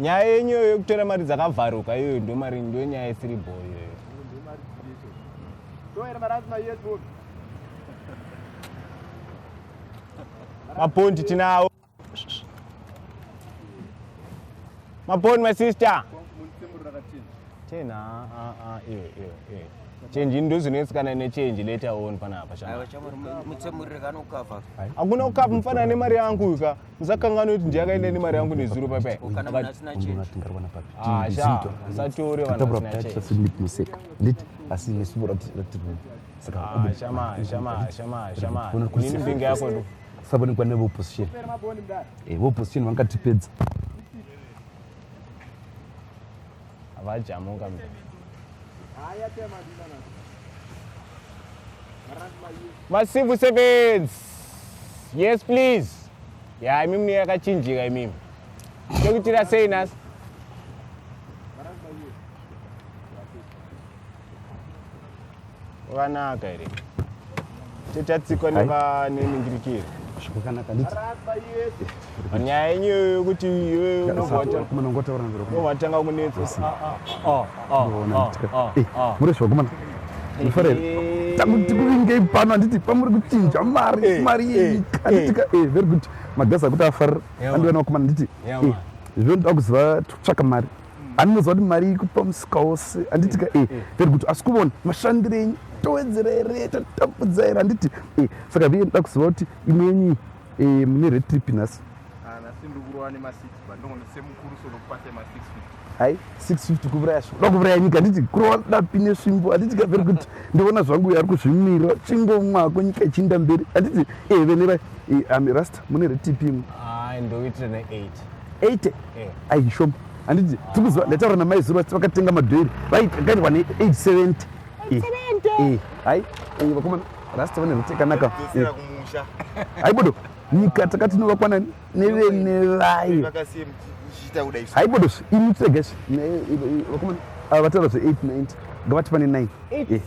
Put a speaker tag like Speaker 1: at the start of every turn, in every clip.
Speaker 1: nyaya yenyu iyoyo yekutora mari dzakavharuka iyoyo ndo mari ndo nyaya isiri bho iyoyo mapondi tinawo maponi my sister ten ah, ah, ah, eh, eh, eh. chenji ndozvinetsikana nechenji later on panapa hakuna kukapa mufanana nemari yangu uyu ka musakangana kuti ndiyakaenda nemari yangu nezuro papaasatore vanhu sabonikwa neveopposition eh, veopposition vangatipedza vajamuka masivu sebenzi yes please ya imi mune yakachinjika imimi tokutira sei nasi Wakanaka here? Tichatsikwa neva neningirikiri. Zvakanaka nditi. Nyaya yenyu yokuti iwe unobvata. Kumana ngotaura nzira. Unobvatanga kunetsa. Ah ah ah. Ah ah ah. ah. Muri zvakumana. Mufarere. Eh. Takuti kuvingei pano handiti pamuri kuchinja mari eh, mari eh, yenyu. Handiti ka eh very good. Magasa kuti afarira. Andiwe nakumana nditi. Zvino ndoda kuziva tsvaka mari. anonoziva kuti mari ikupa musika wose handiti ka e very good asi kuvona mashandiro enyu towedzera here tatambudza here handiti e saka vee ndoda kuziva kuti imwe yenyu eh, mune red trip nhasi hai 650 kuvuraya svo da kuvuraya nyika handiti kurova dapi nesvimbo handiti ka very good ndivona zvangu uyo ari kuzvimirira chingomwako nyika ichiinda mberi handiti e vene vai rasta mune red trip imwe ndoitire ne8 80 eh. ayi shoma handiti tikuziva ndataura namai zuro vati vakatenga madhoiri vakaitwa ne 870 eh. hayi vakoma rasta vane rute kanaka hayi bodo nyika takatinova nani nevene vayo hayi bodo imi tsega vakoma vataura zve 890 ngavati pane 9 eh.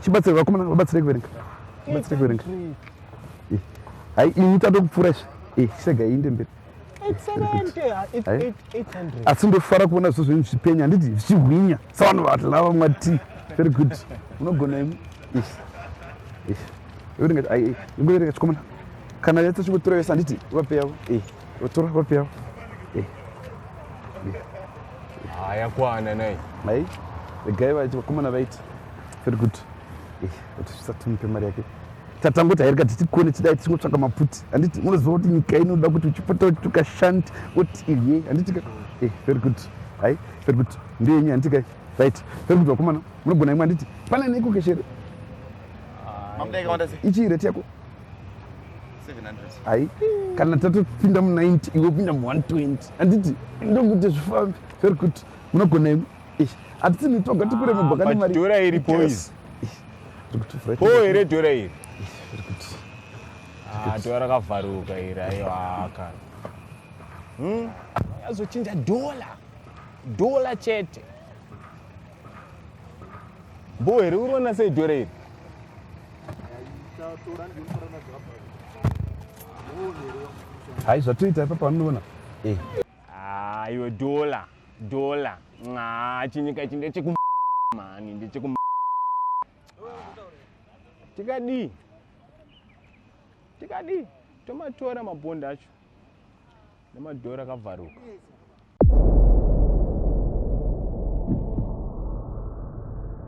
Speaker 1: chibatsire vakomana vabatsire kuverenga chibatsire kuverenga hayi imi tatokupfuura izvi sega iinde mberi asi ndofara kuona zvo zvenyu zvipenya handiti zvichihwinya savanhu vatlava mwati very good unogona imi ngoereka chikomana kana yatsa chingotora yese handiti vape yavo eh, vatora vape yavo eh, eh. haya kwana nai mai regai vaiti vakomana vaiti very good vatisvisatumupe mari yake tatangoti hairika titikone tidai tichingotsvaka mapfuti handiti munoziva kuti nyika inoda kuti uchipota uchituka shanti woti iye handitika eh, very good hai very good ndeyenyu handitika right very good vakomana munogona imwe handiti pane neiko keshere ichii reti yako hai kana tatopinda mu90 iwe upinda mu120 handiti ndokuti zvifambi very good munogona imwe hatitini toga tikure mibhakani mari dhora iri poizi po here dhora iri ah, dhora rakavharuka iri aiwaka hmm? azochinja dhola dhola chete bo here uri ona sei dhora iri hai zvatoita ipapa vanoona eh. ah, iwe dhola Dollar. Nxaa chinyika ichi ndecheku mhani ndecheku tikadii tikadii tomatora mabhondi acho nemadhora akavharuka